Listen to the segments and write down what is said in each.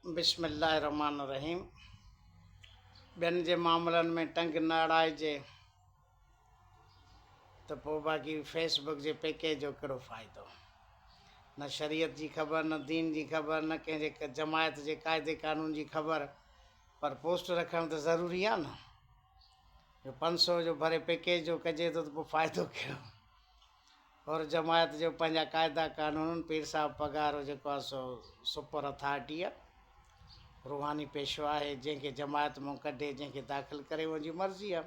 بسم الله الرحمٰن الرحيم ٻين جي معاملن ۾ ٽنگ نه اڙائجي ته پوء باقي فيس بڪ جي پيڪيج جو ڪهڙو فائدو نه شريعت جي خبر نه دين جي خبر نه ڪنهن جي جماعت جي قاعدي قانون جي خبر پر پوسٽ رکڻ ته ضروري آهي نه جو پنج سو جو ڀري پيڪيج جو ڪجي ٿو ته پوء فائدو ڪهڙو حر جماعت جو پنهنجا قاعدا قانون پير صاحب پگهار جو جيڪو آهي سو سپر اٿارٽي آهي روحاني پيشوا آهي جنهن کي جماعت مون ڪڍي جنهن کي داخل ڪري ان جي مرضي آهي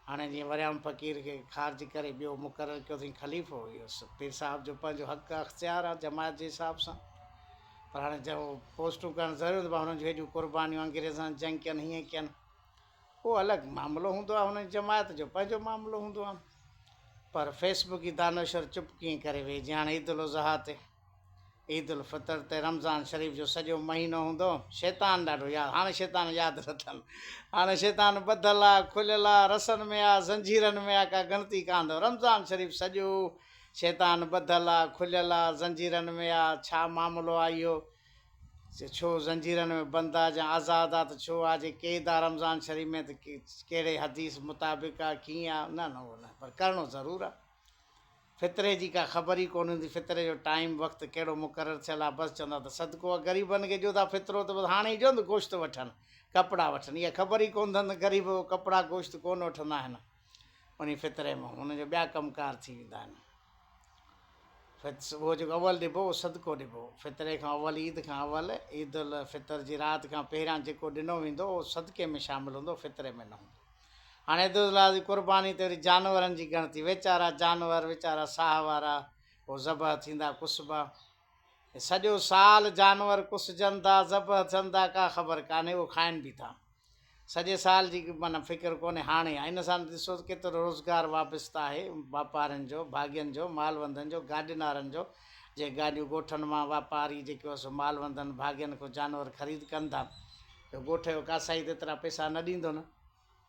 هاڻي جيئن وريام فقير کي خارج ڪري ٻيو مقرر ڪيو اٿئين خليفو اهو پير صاحب جو پنهنجو حق اختيار آهي جماعت جي حساب سان پر هاڻي جب پوسٽون ڪرڻ ضروري هوندو هنن جون هيڏيون قربانيون انگريزن جنگ ڪين هيئن ڪين اهو الڳ معاملو هوندو آهي هن جماعت جو پنهنجو معاملو هوندو آهن پر فيس بڪي دانشور چپ ڪيئن ڪري ويهي جيان عيد الاضحيٰ تي عيد الفطر تي رمضان شريف جو سڄو مهينو هوندو شيطان ڏاڍو ياد هاڻي شيطان ياد نه اٿن هاڻي شيطان ٻڌل آ کليل آ رسن ۾ آ زنجيرن ۾ آ ڪا ڳڻتي ڪا هندو رمضان شريف سڄو شيطان ٻڌل آ کليل آ زنجيرن ۾ آ ڇا معاملو آ اهو ڇو زنجيرن ۾ بند آ جا آزاد آ ته ڇو آ جي قيد آ رمضان شريف ۾ ته ڪهڙي حديث مطابق آ ڪيئن آ نه نه اهو نه پر ڪرڻو ضرور آ فطري جي ڪا خبر ئي ڪونه هوندي فطري جو ٽائيم وقت ڪهڙو مقرر ٿيل آ بس چوندا ته صدقو آ غريبن کي ڏيو ٿا فطرو ته بس هاڻي جو ته گوشت وٺن ڪپڙا وٺن اها خبر ئي ڪونه ٿن غريب ڪپڙا گوشت ڪونه وٺندا آهن انهي فطري مان هن جا ٻيا ڪم ڪار ٿي ويندا آهن. صبح جيڪو اول ڏبو اهو صدقو ڏبو. فطري کان اول عيد کان اول عيد الفطر جي رات کان پهريان جيڪو ڏنو ويندو اهو صدقي ۾ شامل هوندو فطري ۾ نه هوندو. هاڻي عيد الاضحي جي قرباني تي وري جانورن جي ڳڻتي ويچارا جانور ويچارا ساهه وارا اهو ذبح ٿيندا ڪسبا. سڄو سال جانور ڪسجن ٿا، ذبح ٿين ٿا، ڪا خبر ڪانهي، اهو کائن به ٿا. سڄي سال جي معنيٰ فڪر ڪونهي، هاڻي ان سان ڏسو ته ڪيترو روزگار وابسته آهي، واپارين جو، ڀاڳين جو، مالوندن جو، گاڏينارن جو، جي گاڏيون ڳوٺن مان واپاري جيڪو سو مالوندن، ڀاڳين کان جانور خريد ڪن ٿا، جو ڳوٺ جو قاصائي ته ايترا پئسا نه ڏيندو نه.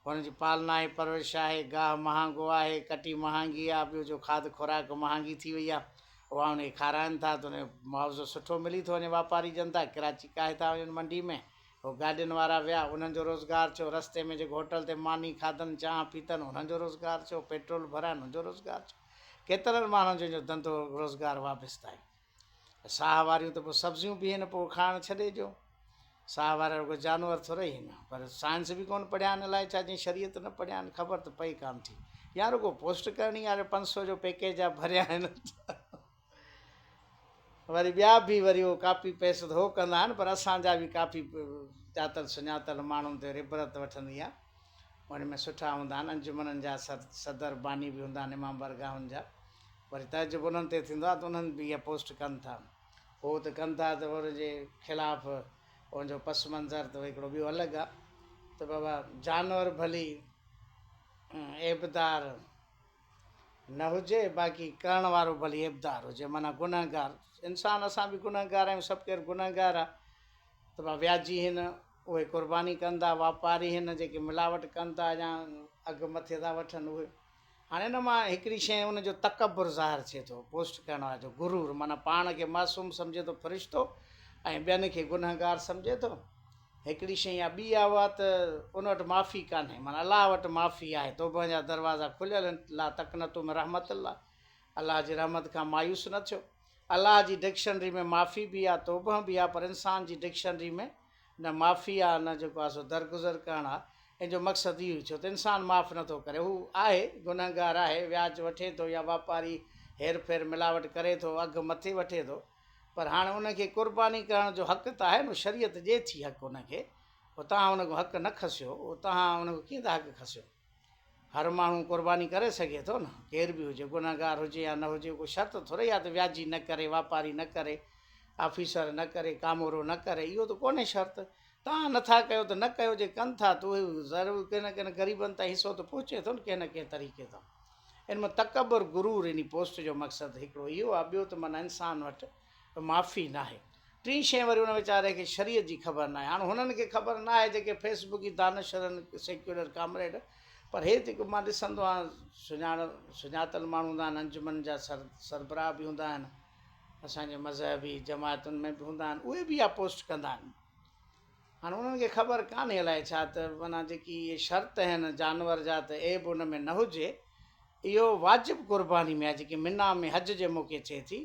هن جي پالنا آهي، پرورش آهي، گاهه مهانگو آهي، ڪٽي مهانگي آهي، ٻيو جو کاڌ خوراڪ مهانگي ٿي وئي آهي، اها هن کي کارائن ٿا ته هن جو معاوضو سٺو ملي ٿو وڃي، واپاري جنتا ڪراچي ڪاهي ٿا وڃن منڊي ۾، هو گاڏين وارا ويا انهن جو روزگار ٿيو، رستي ۾ جيڪو هوٽل تي ماني کاڌن، چانهه پيتن انهن جو روزگار ٿيو، پيٽرول ڀرايا انهن جو روزگار ٿيو، ڪيترن ماڻهن جو ان جو ڌنڌو روزگار وابسته آهي. ساهه واريون ته پوء سبزيون به هين پوء کائڻ ڇڏي جو ساهه وارا رڳو جانور ٿورئي هين پر سائنس به ڪون پڙهيا آهن الائي ڇا جي شريعت نه پڙهيا آهن خبر ته پئي ڪان ٿي يا رڳو پوسٽ ڪرڻي آهي پنج سو جو پيڪيج جا ڀريا آهن وري ٻيا به وري اهو ڪاپي پيسٽ هو ڪندا آهن پر اسان جا به ڪافي ڄاتل سڃاتل ماڻهن تي ربرت وٺندي آهي ان ۾ سٺا هوندا آهن انجمنن جا صدر باني به هوندا آهن امام برگاهن جا وري تعجب انهن تي ٿيندو آهي ته انهن به اها پوسٽ ڪن ٿا. هو ته ڪن ٿا ته ان جي خلاف ان جو پس منظر ته هڪڙو ٻيو الڳ آهي ته بابا جانور ڀلي عيبدار نه هجي باقي ڪرڻ وارو ڀلي عيبدار هجي معنيٰ گنهگار انسان اسان به گنهگار آهيون سڀ ڪير گنهگار آهي ته بابا وياجي هين اهي قرباني ڪن ٿا واپاري هين جيڪي ملاوٽ ڪن ٿا يا اگهه مٿي ٿا وٺن اهي هاڻي ان مان هڪڙي شيء ان جو تڪبر ظاهر ٿئي ٿو، بوسٽ ڪرڻ واري جو غرور معنيٰ پاڻ کي معصوم سمجهي ٿو فرشتو ۽ ٻين کي گنهگار سمجهي ٿو. هڪڙي شيء يا ٻي اها ته ان وٽ معافي ڪانهي معنيٰ الله وٽ معافي آهي توبهن جا دروازا کليل آهن لا تقنطوا من رحمت الله الله جي رحمت کان مايوس نه ٿيو الله جي ڊڪشنري ۾ معافي به آهي توبهن به آهي پر انسان جي ڊڪشنري ۾ نه معافي آ نه جيڪو آسو درگذر ڪرڻ آ ان جو مقصد اهو ئي ڇو ته انسان معاف نه ٿو ڪري هو آهي گنهگار آهي وياج وٺي ٿو يا واپاري هير ڦير ملاوٽ ڪري ٿو اگهه مٿي وٺي ٿو پر هاڻ ان کي قرباني ڪرڻ جو حق ته آهي نو شريعت ڏي ٿي حق ان کي پو تهان ان کان حق نه کسيو او تهان ان کان ڪيئن ٿا حق کسيو. هر ماڻهو قرباني ڪري سگهي ٿو نه ڪير به هجي گنهگار هجي يا نه هجي ڪو شرط ٿورئي آهي ته وياجي نه ڪري واپاري نه ڪري آفيسر نه ڪري ڪامورو نه ڪري اهو ته ڪونهي شرط توهان نٿا ڪيو ته نه ڪيو جي ڪن ٿا ته ضرور ڪنهن نه ڪنهن غريبن تائين حصو ته پهچي ٿو نه ڪنهن نه ڪنهن طريقي تان ان ۾ تڪبر غرور اني پوسٽ جو مقصد هڪڙو اهو آهي ٻيو ته معنيٰ انسان وٽ ته معافي ناهي. ٽين شين وري ان ويچاري کي شريعت جي خبر ناهي. هاڻ هنن کي خبر ناهي جيڪي فيس بڪي دانش شرن سيڪيولر ڪامريڊ پر هي جيڪو مان ڏسندو آهيان سڃاڻ سڃاتل ماڻهو هوندا آهن انجمن جا سر سربراهه به هوندا آهن اسان جي مذهبي جماعتن ۾ به هوندا آهن اهي به اها پوسٽ ڪندا آهن هاڻ انهن کي خبر ڪانهي الائي ڇا ته معنيٰ جيڪي اهي شرط آهن جانور جا ته عيب ان ۾ نه هجي اهو واجب قرباني ۾ آهي جيڪي منا ۾ حج جي موقعي ٿئي ٿي.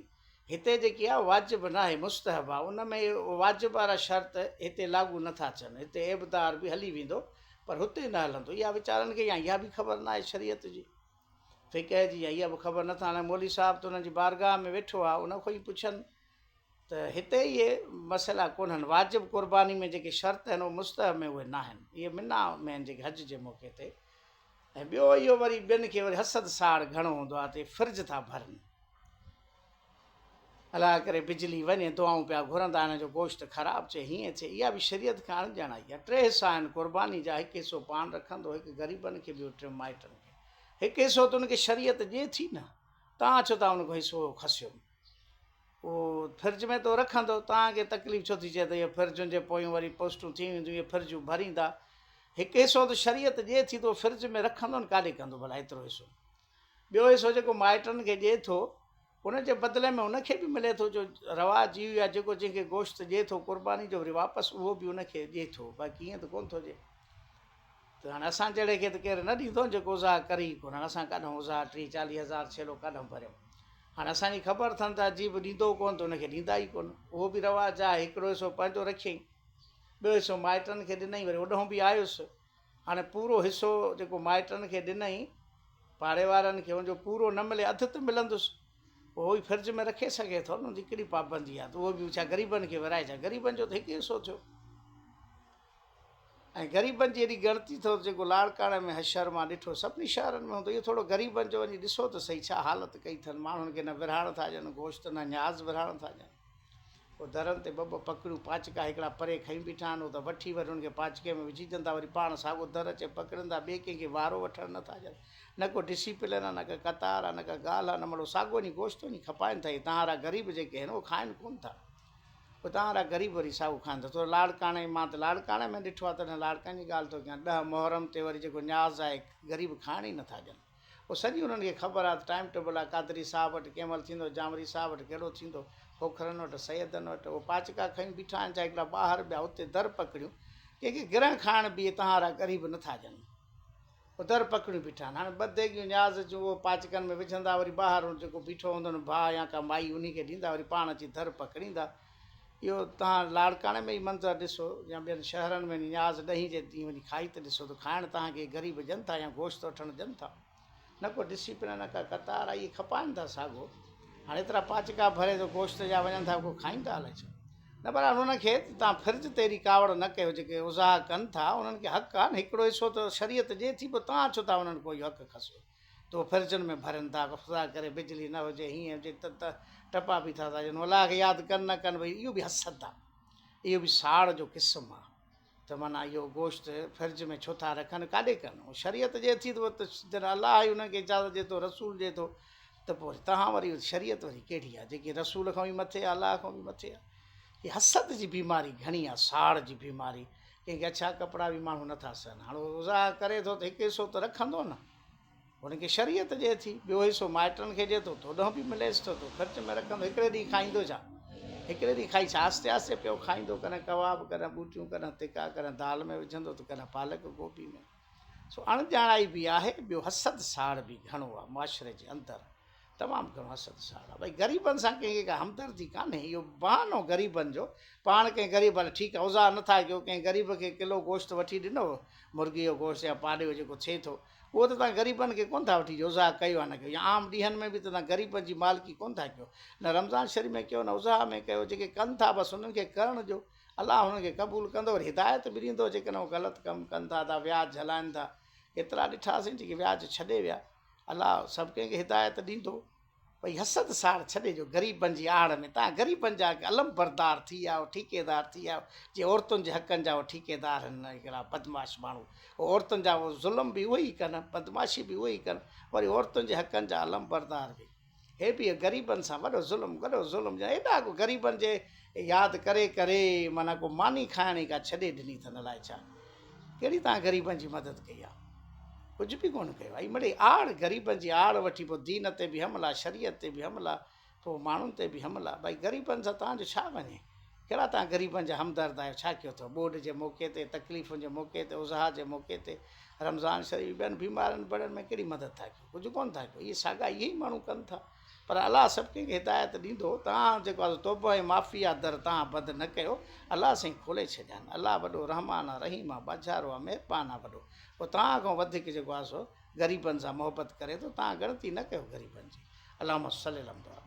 هتي جيڪي آهي واجب ناهي مستحب آهي ان ۾ واجب وارا شرط هتي لاڳو نه ٿا ٿين هتي ابدار به هلي ويندو پر هتي نه هلندو يا ويچارن کي يا اها به خبر ناهي شريعت جي فقه جي يا اها به خبر نٿا هاڻي مولوي صاحب ته انهن جي بارگاهه ۾ ويٺو آهي ان کان ئي پڇن ته هتي اهي مسئلا ڪونهن واجب قرباني ۾ جيڪي شرط آهن اهي مستحب ۾ اهي ناهن اهي منا ۾ آهن جيڪي حج جي موقعي تي ۽ ٻيو اهو وري ٻين کي وري حسد ساڙ گهڻو هوندو آهي ته فرج ٿا ڀرن الله ڪري بجلي وڃي دعائون پيا گهرندا هن جو گوشت خراب چي هيئن چي اها به شريعت کان اڻ ڄاڻائي آهي ٽي حصا آهن قرباني جا هڪ حصو پاڻ رکندو هڪ غريبن کي ٻيو ٽيون مائٽن کي هڪ حصو تون کي شريعت ڏي ٿي نه تان ڇو تان ان کان حصو کسيو او فرج ۾ تو رکندو تان کي تڪليف ڇو ٿي چي ته هي فرجن جي پويون وري پوسٽون ٿي وينديون هي فرجون ڀريندا هڪ حصو ته شريعت ڏي ٿي تو فرج ۾ رکندو نه ڪاڏي ڪندو ڀلا ايترو حصو ٻيو حصو جيڪو مائٽن کي ڏئي ٿو ان جي بدلي ۾ ان کي به ملي ٿو جو رواج اهو ئي آهي جيڪو جنهن کي گوشت ڏئي ٿو قرباني جو وري واپس اهو به ان کي ڏئي ٿو باقي ائين ته ڪونه ٿو ڏئي ته هاڻي اسان جهڙي کي ته ڪير نه ڏيندو آهي جيڪو ازاح ڪري ئي ڪونه اسان ڪڏهن ازاح ٽيهه چاليهه هزار ڇيلو ڪڏهن ڀريو هاڻي اسانجي خبر اٿن ته عجيب ڏيندو ڪونه ته ان کي ڏيندا ئي ڪونه اهو به رواج آهي هڪڙو حصو پنهنجو رکيائين ٻيو حصو مائٽن کي ڏنائين وري اوڏانهن به آيس هاڻي پورو حصو جيڪو مائٽن کي ڏنئي، پاڙي وارن کي، ان جو پورو نه ملي، اڌ ته ملندس. اهو ئي فرج ۾ رکي سگهي ٿو نه، ان جي ڪهڙي پابندي آهي ته اهو به ڇا غريبن کي ورهائي ڇا؟ غريبن جو ته هڪ ئي حصو ٿيو. ۽ غريبن جي ايڏي ڳڻتي اٿو ته جيڪو لاڙڪاڻي ۾ حشر مان ڏٺو، سڀني شهرن ۾ هوندو. اهو ٿورو غريبن جو وڃي ڏسو ته سهي، ڇا حالت ڪئي اٿن. ماڻهن کي نه ورهائڻ ٿا ڏين، گوشت نه نياز ورهائڻ ٿا ڏين. او درن تي ٻه ٻه پڪڙيون پاچڪا هڪڙا پري کڻي بيٺا آهن، او ته وٺي وري ان کي پاچڪي ۾ وجهي ڏين ٿا، وري پاڻ ساڳو در اچي پڪڙين ٿا، ٻئي ڪنهن کي وارو وٺڻ نه ٿا ڏين. نه ڪو ڊسيپلين آهي، نه ڪا قطار آهي، نه ڪا ڳالهه آهي، نه مڙو ساڳو وڃي گوشت وڃي کپائين ٿا، هي تهانرا غريب جيڪي آهن، اهي کائن ڪونه ٿا. او تهانرا غريب وري ساڳو کائن ٿا. تو لاڙڪاڻي، مان ته لاڙڪاڻي ۾ ڏٺو آهي، تڏهن لاڙڪاڻي جي ڳالهه ٿو ڪيان، ڏهه محرم تي وري جيڪو نياز آهي، غريب کائڻ ئي نه ٿا ڏين. پوء سڄي انهن کي خبر آ ته ٽائيم ٽيبل آ قادري صاحب وٽ ڪنهن مهل ٿيندو جامري صاحب وٽ ڪهڙو ٿيندو کوکرن وٽ سيدن وٽ اهي پاچڪا کنيون بيٺا آهن جا هڪڙا ٻاهر ٻيا اتي در پڪڙيون ڪنهن کي گرهه کائڻ به اهي تهارا غريب نه ٿا ڄمن اهي در پڪڙيون بيٺا آهن هاڻي ٻه ديڳيون نياز جون اهي پاچڪن ۾ وجهندا وري ٻاهر جيڪو بيٺو هوندو نه ڀاء يا ڪا مائي انهي کي ڏيندا وري پاڻ اچي در پڪڙيندا اهو توهان لاڙڪاڻي ۾ ئي منظر ڏسو يا ٻين شهرن ۾ نياز ڏهين جي ڏينهن وڃي کائي ته ڏسو ته کائڻ توهان کي غريب ڏين ٿا يا گوشت وٺڻ ڏين ٿا. نه ڪو ڊسيپلن نه ڪا قطار آ اهي کپائن ٿا ساڳو هاڻ ايترا پاچڪا ڀري ته گوشت جا وڃن ٿا ڪو کائين ٿا الائي ڇا نه بهرحال انهن کي ته توهان فرض تي اهڙي ڪاوڙ نه ڪيو جيڪي اوزاها ڪن ٿا انهن کي حق آ نه هڪڙو حصو ته شريعت ڏي ٿي پوء توهان ڇو ٿا انهن کان اهو حق کسو. تو فرجن ۾ ڀرين ٿا خدا ڪري بجلي نه هجي هيئن هجي ته ته ٽپا پي ٿا ساجن الله کي ياد ڪن نه ڪن ڀئي اهو به حسد آ اهو به ساڙ جو قسم آ ته معنيٰ اهو گوشت فرج ۾ ڇو ٿا رکن ڪاڏي ڪن شريعت جي ٿي ته جڏهن الله ئي انهن کي اجازت ڏي ٿو رسول ڏي ٿو ته پوء وري تهان وري شريعت وري ڪهڙي آ جيڪي رسول کان به مٿي آ الله کان به مٿي آ هي حسد جي بيماري گهڻي آ ساڙ جي بيماري ڪي ڳچا ڪپڙا به ماڻهو نه ٿا سهن، هاڻ هو زا ڪري ٿو ته هڪ حصو ته رکندو نه، هن کي شريعت ڏئي ٿي، ٻيو حصو مائٽن کي ڏئي ٿو، توڏانهن به مليس ٿو ته خرچ ۾ رکندو، هڪڙي ڏينهن کائيندو ڇا؟ هڪڙي ڏينهن کائي ڇا؟ آهستي آهستي پيو کائيندو، ڪڏهن ڪباب، ڪڏهن ٻوٽيون، ڪڏهن تکا، ڪڏهن دال ۾ وجهندو ته ڪڏهن پالڪ گوبي ۾. سو اڻڄاڻائي به آهي، ٻيو حسد ساڙ به گهڻو آهي معاشري جي اندر. تمام گهڻو اسد ساڙ آ بھي غريبن سان ڪنهن کي ڪا همدردي ڪانهي اهو بهانو غريبن جو پاڻ ڪنهن غريب هل ٺيڪ آ اوزار نٿا ڪيو ڪنهن غريب کي ڪلو گوشت وٺي ڏنو مرغي جو گوشت يا پاڏي جو جيڪو ٿئي ٿو اهو ته توهان غريبن کي ڪونه ٿا وٺي ڏيو اوزار ڪيو يا نه ڪيو يا عام ڏينهن ۾ به ته توهان غريبن جي مالڪي ڪونه ٿا ڪيو نه رمضان شريف ۾ ڪيو نه اضحا ۾ ڪيو جيڪي ڪن ٿا بس انهن کي ڪرڻ ڏيو الله انهن کي قبول ڪندو وري هدايت به ڏيندو جيڪڏهن غلط ڪم ڪن ٿا ٿا وياج جھلائن ٿا ڪيترا ڏٺاسين جيڪي وياج ڇڏي ويا الله سڀ ڪنهن کي هدايت ڏيندو. ڀئي حسد ساڙ ڇڏي جو غريبن جي آڙ ۾ توهان غريبن جا علمبردار ٿي ويا آهيو ٺيڪيدار ٿي ويا آهيو جي عورتن جي حقن جا اهي ٺيڪيدار هن اهڙا بدمعاش ماڻهو اهي عورتن جا ظلم به اهي ئي ڪن بدمعاشي به اهي ئي ڪن وري عورتن جي حقن جا علمبردار به هي به غريبن سان وڏو ظلم وڏو ظلم جا ايڏا ڪو غريبن جي ياد ڪري ڪري معنيٰ ڪو ماني کائڻ ئي ڪا ڇڏي ڏني اٿن الائي ڇا ڪهڙي توهان غريبن جي مدد ڪئي آ ڪجهه به ڪونه ڪيو آ مڙي آڙ غريبن جي آڙ وٺي پو دين تي به حملا شريعت تي به حملا پو ماڻهن تي به حملا بھائي غريبن سان توهان جو ڇا وڃي ڪهڙا توهان غريبن جا همدرد آهيو ڇا ڪيو اٿو ٻوڏ جي موقعي تي تڪليفن جي موقعي تي اضحا جي موقعي تي رمضان شريف ٻين بيمارن بڙن ۾ ڪهڙي مدد ٿا ڪيو ڪجهه ڪونه ٿا ڪيون اهي ساڳا اهي ئي ماڻهو ڪن ٿا پر الله سڀ ڪنهن کي هدايت ڏيندو توهان جيڪو آهي توبه ۽ معافي آ در توهان بند نه ڪيو الله سائين کولي ڇڏيان الله وڏو رحمان آ رحيم آ ٻاجهارو آ مهربان آ وڏو پوء توهان کان وڌيڪ جيڪو آهي سو غريبن سان محبت ڪري ٿو توهان ڳڻتي نه ڪيو غريبن جي اللهم صل علي محمد